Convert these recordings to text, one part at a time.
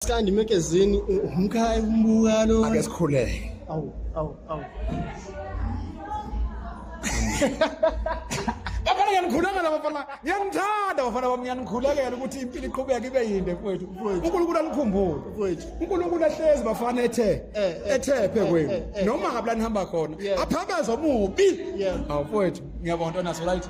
Skandi magazine umkhaya umbuka lo. Ake sikhuleke. Awu awu awu. Bafana ngiyanikhulekela bafana. Ngiyanithanda bafana bami ngiyanikhulekela ukuthi impilo iqhubeke ibe yinde mfowethu. uNkulunkulu anikhumbule. Mfowethu. uNkulunkulu ahlezi bafana ethe Eh, eh, ethephe eh, kwenu. eh, eh. Noma ngabula nihamba khona. Yeah. Aphameza omubi. Yeah. Awu mfowethu ngiyabonga ntwana so right.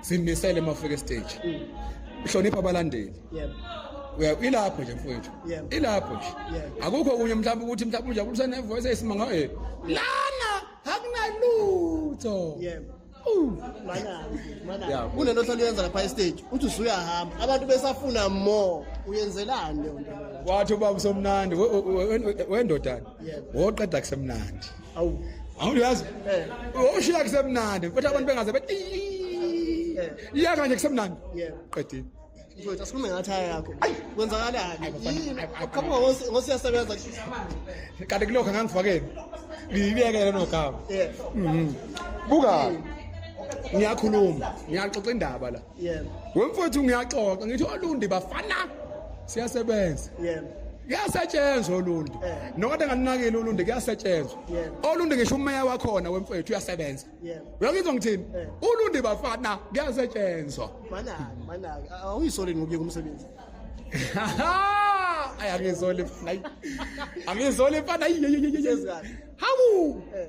simisele uma ufika estage uhlonipha abalandeli yebo uya ilapho nje mfowethu Yebo. ilapho nje Yebo. akukho okunye mhlawumbe ukuthi mhlawumbe unjabulo usenevoice eyisimanga eh lana akunalutho yebo Uh. manazi manazi Yeah. kunento ohlala uyenza lapha estage uthi usuyahamba abantu besafuna more uyenzelani leyo nto wathi ubaba usomnandi we- we- we- wendodana Yebo. woqeda kusemnandi awu awuyazi eh. ushiya kusemnandi futhi abantu bengaze bethi eh. iya kanje kusemnandi qedile mfowethu asikhulume ngathaya yakho kwenzakalani yini uqhamuka ngosiyasebenza kanti kulokho ngangifakeni ngiyibekele nogama mhm. buka ngiyakhuluma ngiyaxoxa indaba la yebo wemfowethu ngiyaxoxa ngithi olundi bafana siyasebenza yebo kuyasetshenzwa olundi eh. nokade nganinakile olundi kuyasetshenzwa olundi ngisho umeya wakhona wemfowethu uyasebenza uyangizwa ngithini eh. ulundi bafana kuyasetshenzwa manaka manaka awuyisoli ngokuye kumsebenzi ayangizoli mfana angizoli mfana hawu eh.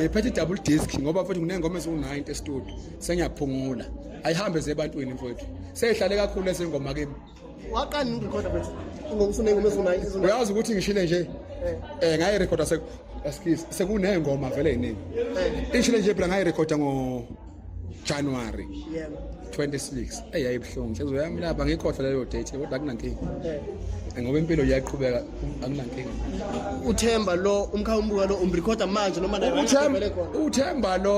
ngiphethe i-double disk ngoba futhi nginey'ngoma eziwu-90 estudio sengiyaphungula ayihambe zebantwini mfowethu seyihlale kakhulu ezengoma kimi uyazi ukuthi ngishile nje um ngayirekhoda sekuney'ngoma vele yiningi eh. ishile nje phela ngayirekhoda ngo January yeah 26 hey yayibuhlungu nhliziyo yami lapha ngikhohlwa leyo date kodwa akunankingi eh. ngoba impilo iyaqhubeka akunankingi uthemba lo umkhawumbuka lo umrecorda manje noma naye uthemba uthemba lo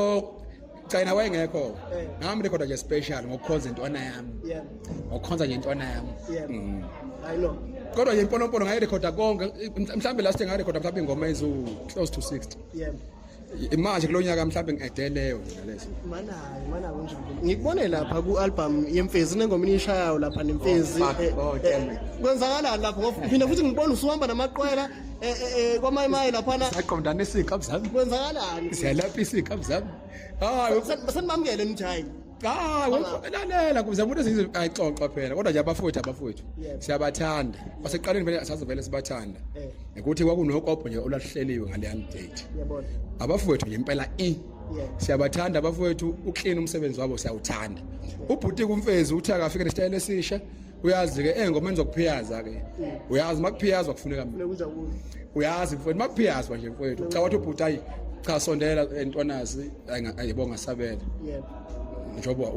cayina wayengekho eh. ngami recorda nje special ngokukhonza intwana yami yeah ngokukhonza nje intwana yami yeah mm. i know kodwa yimponopono ngayirekhoda konke mhlawumbe last ngayirekhoda mhlawumbe ingoma eziwu close to 60 yeah manje kulo nyaka mhlawumbe ngideleyo mina leso mana mana kunjani ngikubone lapha ku album yemfezi nengoma inishayayo lapha nemfezi oh, eh, oh, eh, kwenzakalani lapho ngoba phinde futhi ngibona usuhamba namaqwela eh, kwamaye maye lapha na saqondana isikhabu zami kwenzakalani siyalapha isikhabu zami hayi senibamukele nijayini cha lalela kuze umuntu esizwe ayixoxa phela kodwa nje abafowethu abafowethu siyabathanda baseqaleni vele asazovele sibathanda eh. ukuthi kwakunokopho nje olahleliwe ngaleya date abafowethu nje impela i siyabathanda abafowethu uklina umsebenzi wabo siyawuthanda ubhuti kumfezi uthi akafike nesitayela esisha uyazi ke engomeni zokuphiyaza ke uyazi makuphiyazwa kufuneka mina uyazi mfowethu makuphiyazwa nje mfowethu cha wathi ubhuti ayi cha sondela entwanazi ayibonga sabela yebo njengoba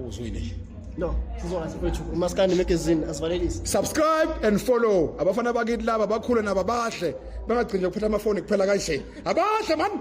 uzwile nje no sizona sifethu umaskandi magazine asivalelise subscribe and follow abafana bakithi laba bakhule nabo abahle bangagcini ukuphatha amafoni kuphela kanje abahle man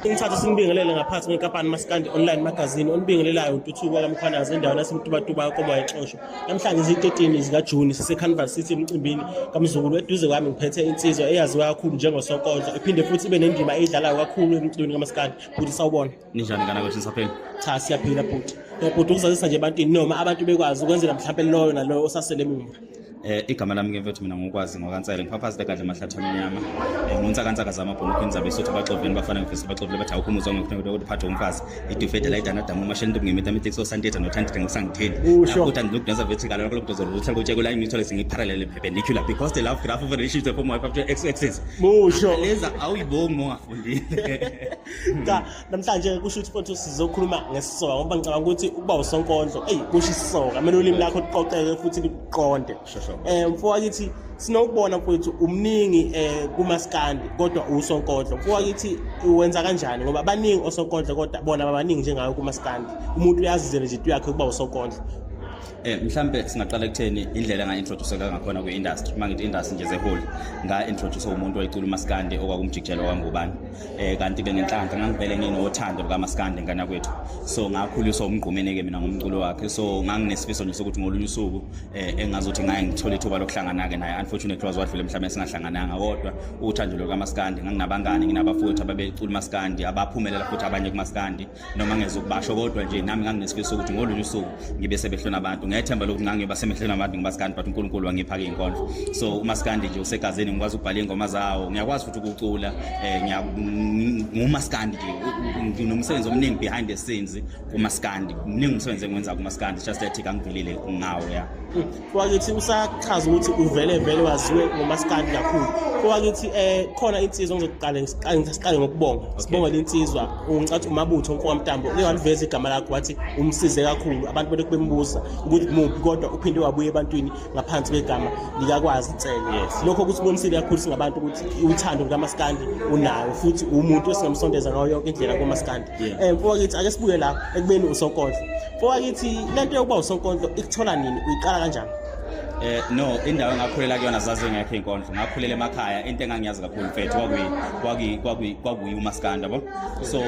Ngithatha simbingelele ngaphansi kwenkampani Maskandi Online Magazine onibingelelayo ututhuko kaMkhwanazi endaweni yaseMtubatuba yakoba exosho. Namhlanje izi-13 zikaJuni siseCarnival City emcimbini kaMzukulu eduze kwami ngiphethe insizwa eyaziwa kakhulu njengoSokonzo iphinde futhi ibe nendima eyidlalayo kakhulu emculweni kaMaskandi. Bhuti sawubona. ninjani kana kwethu nisaphila cha siyaphila bhuti bhuti ukuzazisa nje ebantwini noma abantu bekwazi ukwenzela mhlawumbe loyo naloyo osasele emumva Eh igama lami ke mfethu mina ngokwazi ngokansele ngiphaphazile kahle amahlathi amnyama. Eh ngonsa kantsaka zama bhonokho inzabe sothi baxoveni bafana ngifisa baxovele bathi awukho umuzwa ngifuna ukuthi ukuphatha umfazi. Idufede la idana damu mashela into ngemita mithi so santeta no thanti ngisangitheni. Ukuthi andilokudonsa vethi kala lokho lokudonsa ukuthi ukuthi kula ngithole singiparallel perpendicular because the love graph of a relationship from my factor x axis. Musho. Leza awuyibongi mongafundile. cha namhlanje kusho ukuthi futhi sizokhuluma ngesisoka ngoba ngicabanga ukuthi ukuba usonkondlo eyi kusho isisoka kumele ulimi lakho luqoqeke futhi luqonde eh mfo wakithi sinokubona mfowethu umningi eh kumaskandi kodwa usonkondlo mfo wakithi uwenza kanjani ngoba baningi osonkondlo kodwa bona babaningi njengayo kumaskandi umuntu uyazizela nje into yakhe ukuba usonkondlo Eh mhlambe singaqala ekutheni indlela enga introduceka ngakhona kwi industry uma ngithi industry nje ze whole nga introduce umuntu oyicula uMaskandi okwakumjikijela kwangubani eh kanti ke ngenhlanhla ngangivele nginothando luka Maskandi ngana kwethu so ngakhuliswa umgqumeni ke mina ngomculo wakhe so nganginesifiso nje sokuthi ngolunye usuku eh engazothi ngaye ngithole ithuba lokuhlangana ke naye unfortunately was wadlule mhlawumbe singahlangananga kodwa uthando luka Maskandi nganginabangani nginabafowethu ababecula uMaskandi abaphumelela futhi abanye kuMaskandi noma ngeza ukubasho kodwa nje nami nganginesifiso ukuthi ngolunye usuku ngibe sebehlona abantu ngethemba lokuthi ngangiyoba semehlweni abantu ngomasikandi but unkulunkulu wangipha-ke iy'nkondlo so umasikandi nje usegazini ngikwazi ukubhala iy'ngoma zawo ngiyakwazi futhi ukucula um ngumasikandi nje nginomsebenzi omningi behind the scenes kumasikandi mningi umsebenzi engiwenza kumasikandi just that kangivelile ngawo ya kwakithi usachaza ukuthi uvele vele waziwe ngomaskandi kakhulu kwakithi eh khona insizwa ngizoqala ngiqale ngokubonga sibonga lensizwa ungicathi umabutho onkokwamtambo uke waliveza igama lakho wathi umsize kakhulu abantu bele kubembuza ukuthi muphi kodwa uphinde wabuye ebantwini ngaphansi kwegama likakwazi nsele lokho kusibonisile kakhulu singabantu ukuthi uthando lukamaskandi unayo futhi umuntu esingamsondeza ngayo yonke indlela komaskandi um kwakithi ake sibuye la ekubeni usokondla Fowakithi lento yokuba usonkondlo ikuthola nini uyiqala kanjani? Eh no indawo engakhulela kuyona zaze ngekho inkondlo ngakhulela emakhaya into engangiyazi kakhulu mfethu kwakuyi kwakuyi kwakuyi kwakuyi umaskanda bo so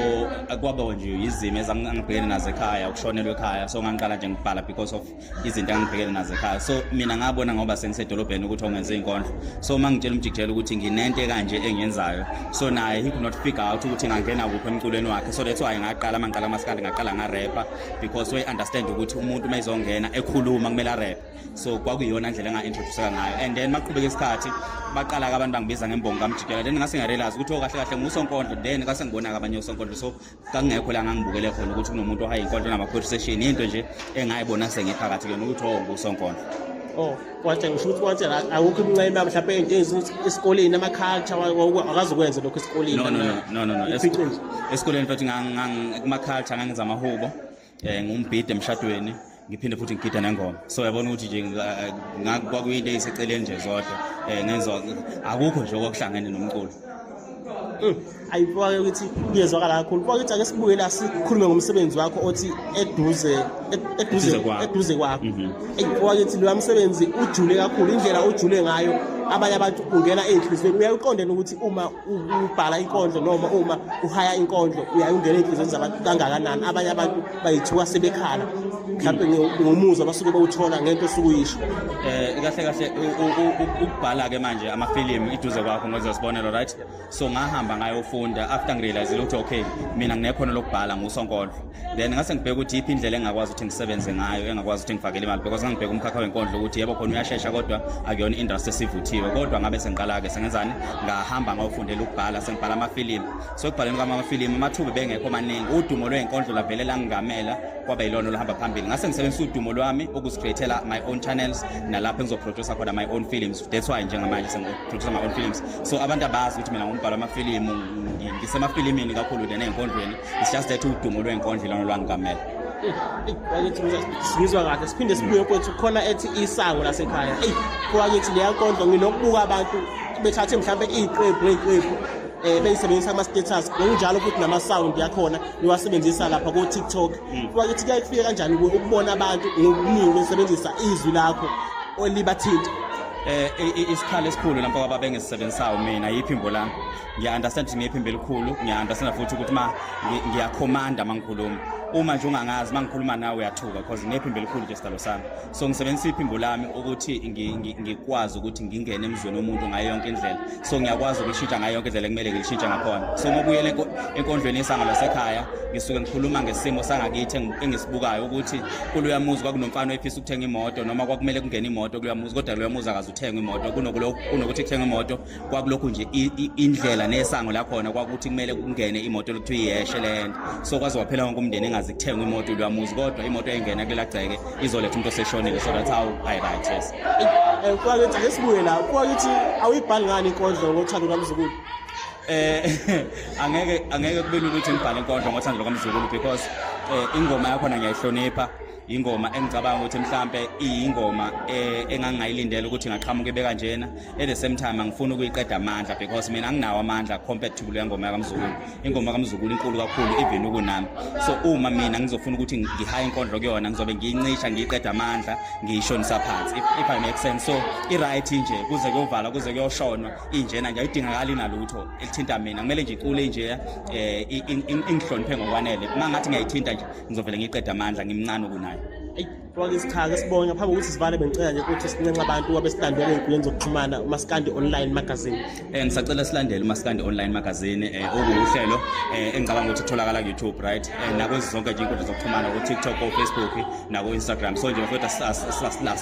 kwaba nje izimo ezangibhekene nazo ekhaya ukushonelwa ekhaya so ngangiqala nje ngibhala because of izinto engibhekene nazo ekhaya so mina ngabona ngoba sengisedolobheni ukuthi ongenze inkondlo so mangitshela umjikijela ukuthi nginento kanje engiyenzayo so naye he could not figure out ukuthi ngangena kuphi emculweni wakhe so that's why ngaqala uma ngiqala amasikandi ngaqala ngarepha because we understand ukuthi umuntu uma ezongena ekhuluma kumele arephe so kwakuyona ndlela enga-introduceka ngayo and then maqhubeka isikhathi baqala-ke abantu bangibiza ngembongo kamjikela then ngase ngarealize ukuthi okahle oh, kahle ngusonkondlo then kase ngibona-ke abanye osonkondlo so kangekho la ngangibukele khona ukuthi kunomuntu ohaye inkondlo nama-conversation yinto nje engayibona sengiphakathi kuyona ukuthi oh ngusonkondlo oh wathi ngisho ukuthi wathi awukho imncema mhlawumbe into ezinto esikoleni ama culture akazokwenza lokho esikoleni no no no no no esikoleni futhi ngang kuma culture ngangenza amahubo eh ngumbhide emshadweni ngiphinde futhi ngigida nengoma so yabona ukuthi nje kwakuyinto eyiseceleni nje zodwa um ngenza akukho nje okwakuhlangene nomculo mm. ayibuke ukuthi kuyezwakala kakhulu buka ukuthi ake sibuye la sikhulume ngomsebenzi wakho othi eduze eduze eduze kwakho mhm. ayibuka ukuthi lo msebenzi ujule kakhulu indlela ujule ngayo abanye abantu ungena ezinhlizweni uyakuqondela ukuthi uma ubhala inkondlo noma uma uhaya inkondlo uyaye ungena ey'nhlizweni zabantu kangakanani abanye abantu bayithuka sebekhala mhlawumbe ngomuzwa basuke bawuthola ngento osuke uyisho um kahle kahle ukubhala-ke manje amafilimu iduze kwakho ngoze sibonelo right so ngahamba ngayofunda after ngirealizile ukuthi okay mina nginekhono lokubhala ngusonkondlo then ngase ngibheka ukuthi iphi indlela engakwazi ukuthi ngisebenze ngayo engakwazi ukuthi ngifakele imali because ngangibheka umkhakha wenkondlo ukuthi yebo khona uyashesha kodwa akuyona industry esivuthiwe kodwa ngabe sengiqala-ke sengenzani ngahamba ngawufundela ukubhala sengibhala amafilimu so ekubhaleni kwami amafilimu amathuba bengekho maningi udumo lwenkondlo lavele langingamela kwaba yilona oluhamba phambili ngase ngisebenzisa udumo lwami ukuzicreatela my own channels nalapho engizoproducer khona my own films that's why njengamanje sengiproducer my own films so abantu abazi ukuthi mina ngumbhalo amafilimu ngisemafilimini kakhulu than ey'nkondlweni it's just that udumo lwenkondlo ilona lwangigamela ngizwa kahle siphinde sibuye kwethu khona ethi isango lasekhaya eyi kwakithi leya nkondlo nginokubuka abantu bethathe mhlawumbe iy'qephu ngey'qephu um eh, beyisebenzisa kuma-status ngokunjalo futhi nama-sound yakhona niwasebenzisa lapha ko-tiktok hmm. kwakithi kuyaye kufike kanjani kuwe ukubona abantu ngokuningi besebenzisa izwi lakho olibathinta um eh, isikhala esikhulu lampa kwababengizisebenzisayo mina yiphimbo lami ngiya-understand ukuthi ngiyephimba elikhulu ngiya-understand futhi ukuthi ma ngiyakhomanda uma ngikhuluma uma nje ungangazi uma ngikhuluma nawe uyathuka because nginephimbo elikhulu nje sidalo sami so ngisebenzisa iphimbo lami ukuthi ngikwazi ukuthi ngingene emzweni womuntu ngayo yonke indlela so ngiyakwazi ukulishintsha ngayo yonke indlela ekumele ngilishintshe ngakhona so uma ubuyela enkondlweni yesanga lasekhaya ngisuke ngikhuluma ngesimo sangakithi engisibukayo ukuthi kuloya muzi kwakunomfana oyifisa ukuthenga imoto noma kwakumele kungene imoto kuloya muzi kodwa loya muzi akaze uthenge imoto kunokuthi kuthenge imoto kwakulokhu nje indlela nesango lakhona kwakuthi kumele kungene imoto lokuthiwa iyeshe le nto so kwaze waphela wonke umndeni engazi kuthengwa imoto uyamuzi kodwa imoto engena kulela gceke izoletha umuntu oseshonile so that's how i right yes eh, kwakithi ake sibuye la kwakithi awuyibhali ngani inkondlo ngothando lwamzukulu eh angeke angeke kube lula ukuthi ngibhale inkondlo ngothando lwamzukulu because eh, ingoma yakhona ngiyayihlonipha ingoma engicabanga ukuthi mhlambe iyingoma eh, engangingayilindela ukuthi ngaqhamuka ibe kanjena at the same time angifuni ukuyiqeda amandla because mina anginawo amandla compared to le ngoma yakamzukulu ingoma kamzukulu inkulu kakhulu even ukunami so uma mina ngizofuna ukuthi ngihaye inkondlo kuyona ngizobe ngiyincisha ngiyiqeda amandla ngiyishonisa phansi if, if i make sense so i-right nje kuze kuyovala kuze kuyoshonwa injena nje ayidingakali nalutho elithinta mina kumele nje icule nje um ingihloniphe ngokwanele uma ngathi ngiyayithinta nje ngizovele ngiqeda amandla ngimncane kunaye eyi faka isichaka sibonye ngaphambi kokuthi sivale bengicela nje ukuthi sinenxa abantu wabe silandela ey'nkundleni zokuxhumana umasikandi online magazine um ngisacela silandele umasikandi online magazine um eh, okuwuhlelo um eh, engicabanga ukuthi kutholakala ku-youtube right um nakwezi zonke nje iy'nkundla zokuxhumana ku-tiktok ko-facebook nako-instagram so nje bafowethu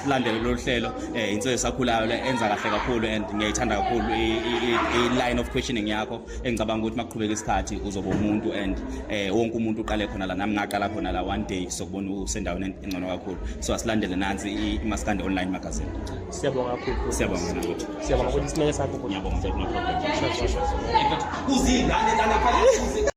silandele lolu hlelo um insizwe esakhulayo le enza kahle kakhulu and ngiyayithanda kakhulu i-line of questioning yakho engicabanga ukuthi makuqhubeka isikhathi uzoba umuntu and eh wonke umuntu uqale khona la nami ngaqala khona la one day sokubona usendaweni engcono kakhulu so asilandele nansi imaskande online magazine siyabonga kakhulu siyabonga mina ukuthi siyabonga ukuthi sineke sakho ngiyabonga mfethu no problem uzingane lana phakathi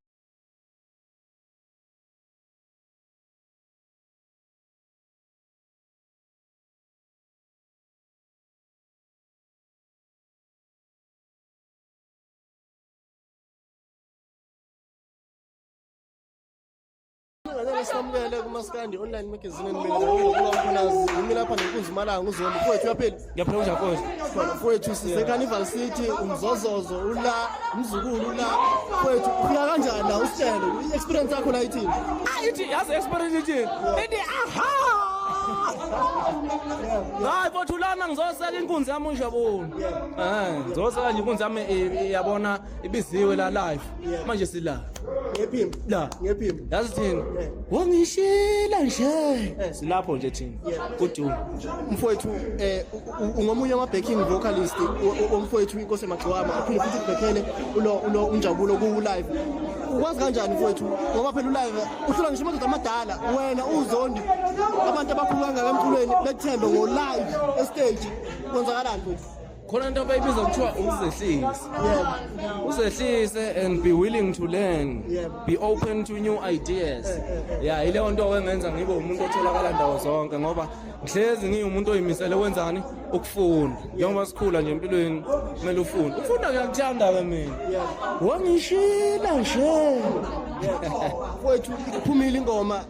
Ngicela samukele kumaskandi online magazine nibelelaphanasi yimi lapha nenkunzi malanga uzona mfowethu uyaphila ngiyaphila kunjani mfowethu mfowethu sise carnival city umzozozo ula umzukulu ula mfowethu ufika kanjani la usitshele i-experience yakho la ithini ah, ithi yazi experience ithini ithi aha hayi mfowethu lana ngizoseka inkunzi yami unjabula Eh, Zosa kanje inkunzi yami i- iyabona ibiziwe la live. Manje sila. ngephimbo La. ngephimbo Yazi thina. Wangishila nje. Silapho nje thina. Kudu. mfowethu eh u- u- ungomunye wama backing vocalist o- o- omfowethu inkosi emagcwama aphinde futhi kubhekele ulo ulo unjabulo ku live ukwazi kanjani mfowethu ngoba phela ulive uhlula ngisho amadoda amadala wena uzondi abantu abakhulu kangaka emculweni bethembe ngo live e stage kwenzakalani futhi khona into abayibiza kuthiwa ukuzehlisa uzehlise and be willing to learn be open to new ideas eh, eh, eh. ya yileyo nto wengenza ngibe umuntu otholakala ndawo zonke ngoba ngihlezi ngiwumuntu oyimisele wenzani ukufunda njengoba sikhula nje empilweni kumele ufunde ukufunda ngiyakuthanda-ke mina wangishila nje kwethu iphumile ingoma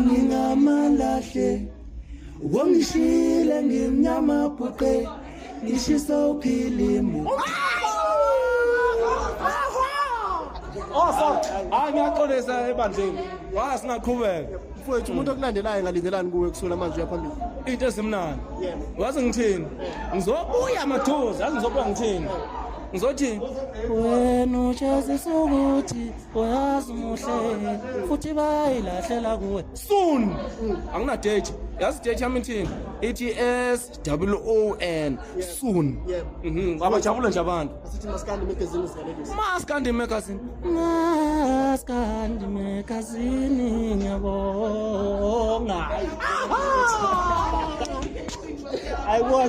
ngingamalahle wongishile ngimnyama bhuqe ngishisa uphilimu Osa, oh, hayi ngiyaxolisa ebandleni. Wala singaqhubeka. Mfowethu umuntu okulandelayo ngalindelani kuwe kusula manje uyaphambili. Into esimnandi. Wazi ngithini? Ngizobuya mathuza, ngizobuya ngithini? Ngizothi wena ujazi sokuthi uyazi muhle futhi bayilahlela kuwe soon anginadate yazi date yami ithini ithi s w o n soon Mhm, abajabula nje abantu Asithi maskandi magazine sikalekisa. maskandi magazine maskandi magazine ngiyabonga I watch